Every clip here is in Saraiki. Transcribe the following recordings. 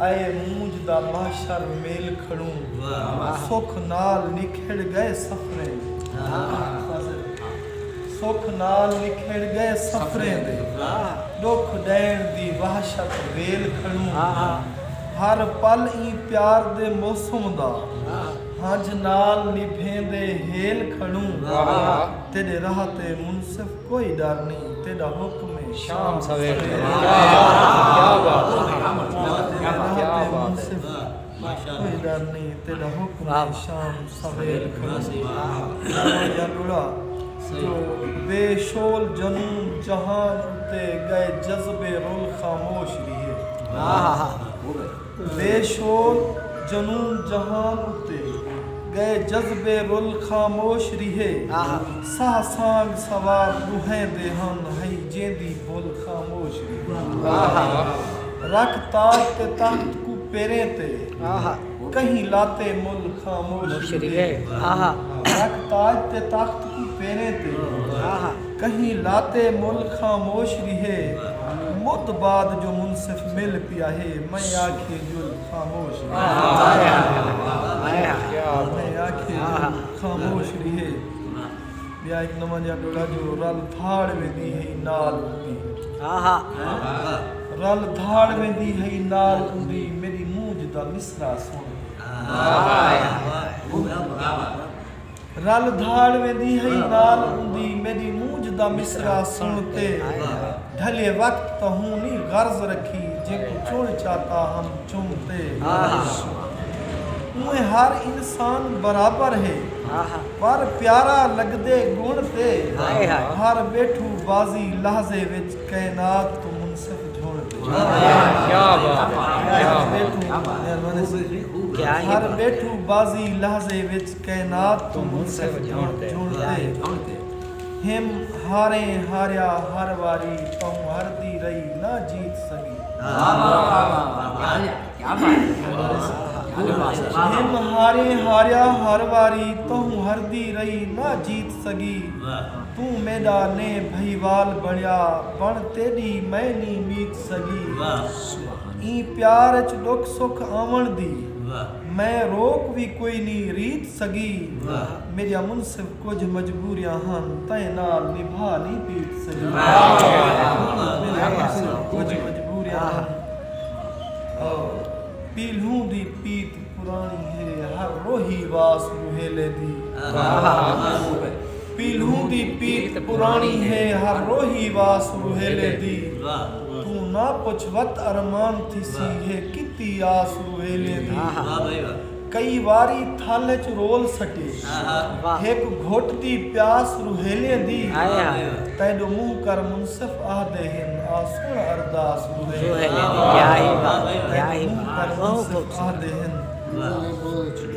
اے مونجھ دا محشر میل کھڑوں سکھ نال نکھڑ گئے سفریں سکھ نال نکھڑ گئے سفریں دے ڈکھ ڈئن دی وحشت ویل کھڑوں ہر پل ایں پیار دے موسم دا ہنجھ نال نبھیندے ہیل کھڑوں تیڈے راہ تے منصف کوئی ڈر نئیں تیڈا حکم ہے شام سویرے جو بے شول جنون جہان اتے گئے جذبے رول خاموش وی ہے۔ بے شور جنون جہان اتے ڳئے جذبے رل خاموش ریہے ساہ سانڳ سوار ݙوہیں دے ہن ہئی جیندی بھل خاموش ریہے رکھ تاج تے تخت کوں پیریں تے کہیں لاتے مل خاموش ریہے رکھ تاج تے تخت کوں پیریں تے کہیں لاتے مل خاموش ریہے مدھ بعد جو منصف مل پیاہے میں آکھے جل خاموش ریہے ٻیا ہک نواں جیہا ٹولا جو رل دھاڑ ویندی ہئی نال اوندی رل دھاڑ ویندی ہئی نال اوندی میݙی مونجھ دا مصرعہ سݨ کے رل دھاڑ ویندی ہئی نال اوندی میݙی مونجھ دا مصرعہ سݨ تے ڈھلے وقت تاں ہوں نی غرض رکھی جینکوں چݨ چاہتا ہم چم تے اونویں ہر انسان برابر ہے پر پیارا لڳدے گݨ تے بھر ٻیٹھو بعضی لحظے وچ کائنات توں منصف جھوݨ تے۔ کائنات توں منصف جھنڑ تے۔ ہم ہاریں ہاریا ہر واری تہوں ہردی رہی نہ جیت سگی۔ ہم ہاریں ہاریا ہر واری تہوں ہردی رہی نہ جیت سگی۔ توں میڈا نیں بھئیوال بنڑیا بن تیڈی میں نیں میت سگی۔ ایں پیار اچ ڈکھ سکھ آونڑ دی۔ میں روک وی کوئی نی ریت سگی۔ میڈیا منصف کجھ مجبوریاں ہن تئیں نال نبھا نی پیت سگی۔ میڈیا منصف کجھ مجبوریاں ہن پیلھوں دی پیت پرانی ہے ہر روہی واس روہیلے دی۔ پیلھوں دی پیت پراݨی ہے ہر روہی واس روہیلے دی توں نہ پچھ وت ارمان تھیسی ہے کیتی آس روہیلے دی کئی واری تھل اچ رول سٹے ہک گھٹ دی پیاس روہیلے دی تیݙو منہ کر منصف آہدے ہن آ سݨ ارداس روہیلے دی تیݙو منہ کر منصف آہدے ہن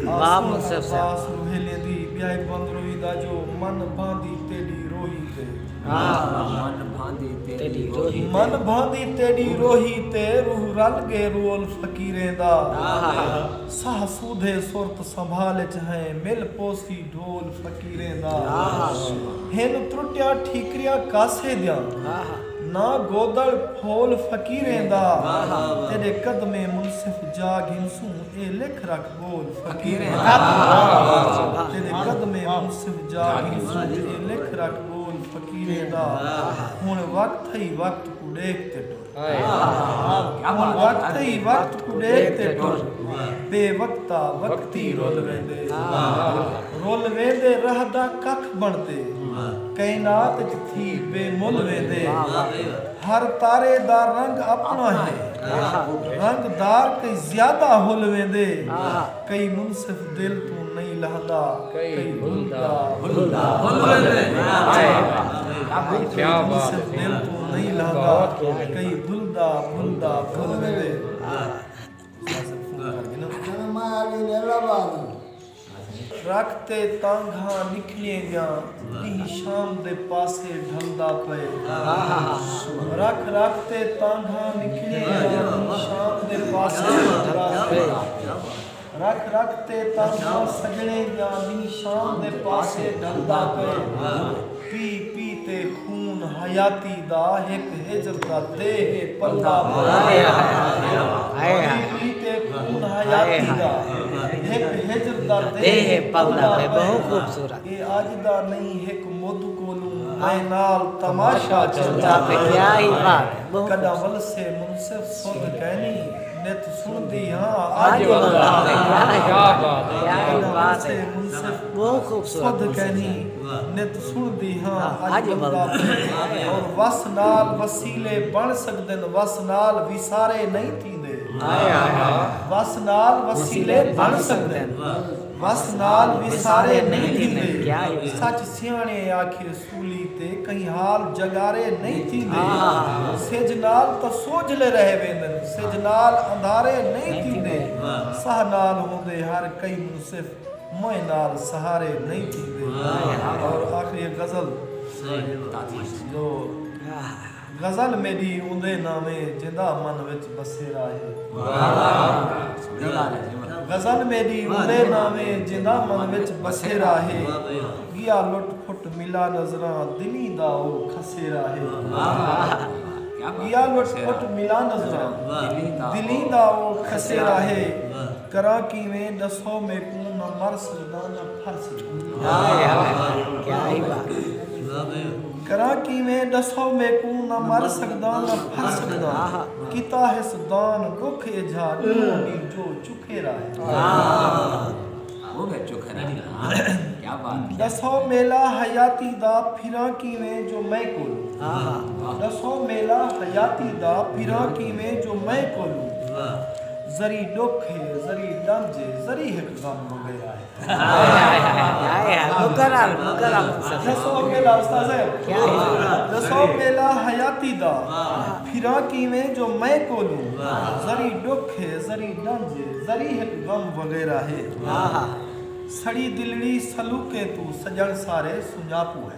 واہ منصف صاحب۔ آس نو ہیلے دی ٻیا ہک بند روہی دا جو من بھاندی تیݙی روہی تے۔ واہ واہ من بھاندی تیݙی روہی تے۔ من بھاندی تیݙی روہی تے روح رل ڳئے رول فقیریں دا۔ ساہ سودھے سرت سنبھال اچ ہئیں مل پوسی ڈھول فقیریں دا۔ ہن ترٹیاں ٹھیکریاں کاسے دیاں نہ گودڑ پھول فقیریں دا۔ تیݙے قدمیں منصف جا گھنسوں۔ اے لکھ رکھ ٻول فقیریں دا تیݙے قدمیں منصب جا گھیسوں تے اے لکھ رکھ ٻول فقیریں دا ہݨ وقت ہئی وقت کوں ݙیکھ تے ٹر ہݨ وقت ہئی وقت کوں ݙیکھ تے ٹر بے وقتا وقتی رل ویندے رل ویندے رہدا ککھ بݨ تے کائنات اچ تھی بے مل ویندے۔ ہر تارے دا رنگ اپݨا ہے۔ رنگ دار کئی زیادہ ہل ویندے۔ کئی منصف دل توں نئیں لہدا۔ کئی ہلدا ہلدا ہل ویندے۔ کئی منصف دل توں نئیں لہدا۔ کئی ہلدا ہلدا ہل ویندے۔ ٹرک تے تانگھاں نکلیں ڳیاں ݙینہہ شام دے پاسے ڈھلدا پئے رکھ رکھ تے تانگھاں نکلیں ڳیاں ݙینہہ شام دے پاسے ڈھلدا پئے رکھ رکھ تے تانگھاں سڄݨے ڳیاں ݙینہہ شام دے پاسے ڈھلدا پئے۔ پی پی تے خون حیاتی دا ہک ہجر دا دے ہے پلہ اے اج دا نئیں ہک مد کولوں میں نال تماشا چلدا پئے کڈاں ولسے منصف سدھ کینی نت سنڑدی ہاں اج ولدا پئے کڈاں ولسے منصف سدھ کینی نت سݨدی ہاں اڄ ولدا پئے اور وس نال وسیلے بݨ سڳدن وس نال وسارے نئیں تھیندے وس نال وسیلے بݨ سڳدن وس نال وسارے نئیں تھیندے سچ سیاݨے اے آکھیے سولی تے کہیں حال جڳارے نئیں تھیندے سجھ نال تاں سوجھلے رہ ویندن سجھ نال اندھارے نئیں تھیندے ساہ نال ہوندے ہر کئی منصف مئیں نال سہارے نئیں تھیندے اور آخری ہے غزل جو غزل میݙی اوندے نام ہے جیندا من وچ بسیرا ہے غزل میݙی اوندے نام ہے جیندا من وچ بسیرا ہے ڳیا لٹ پھٹ ملا نظراں دلیں دا او کھسیرا ہے ڳیا لٹ پھٹ ملا نظراں دلیں دا او کھسیرا ہے۔ کراں کیویں ڈسو میکوں نہ مر سگداں نہ پھر سگداں کیتا ہس دان ڈکھ ایجھا ڈینہوں دی جو چکھیرا ہے ڈسو میلا حیاتی دا پھراں کیویں جو میں کولوں ذری ڈکھ ہے ذری ڈنج ہے ذری ہک غم وگے آئے دسو میلا استاذ دسو میلا حیاتی دا پھراں کیویں جو میں کولوں ذری ڈکھ ہے ذری ڈنج ہے ذری ہک غم وغیرہ ہے سڑی دلڑی سلوکیں توں سجن سارے سنجاپو ہے۔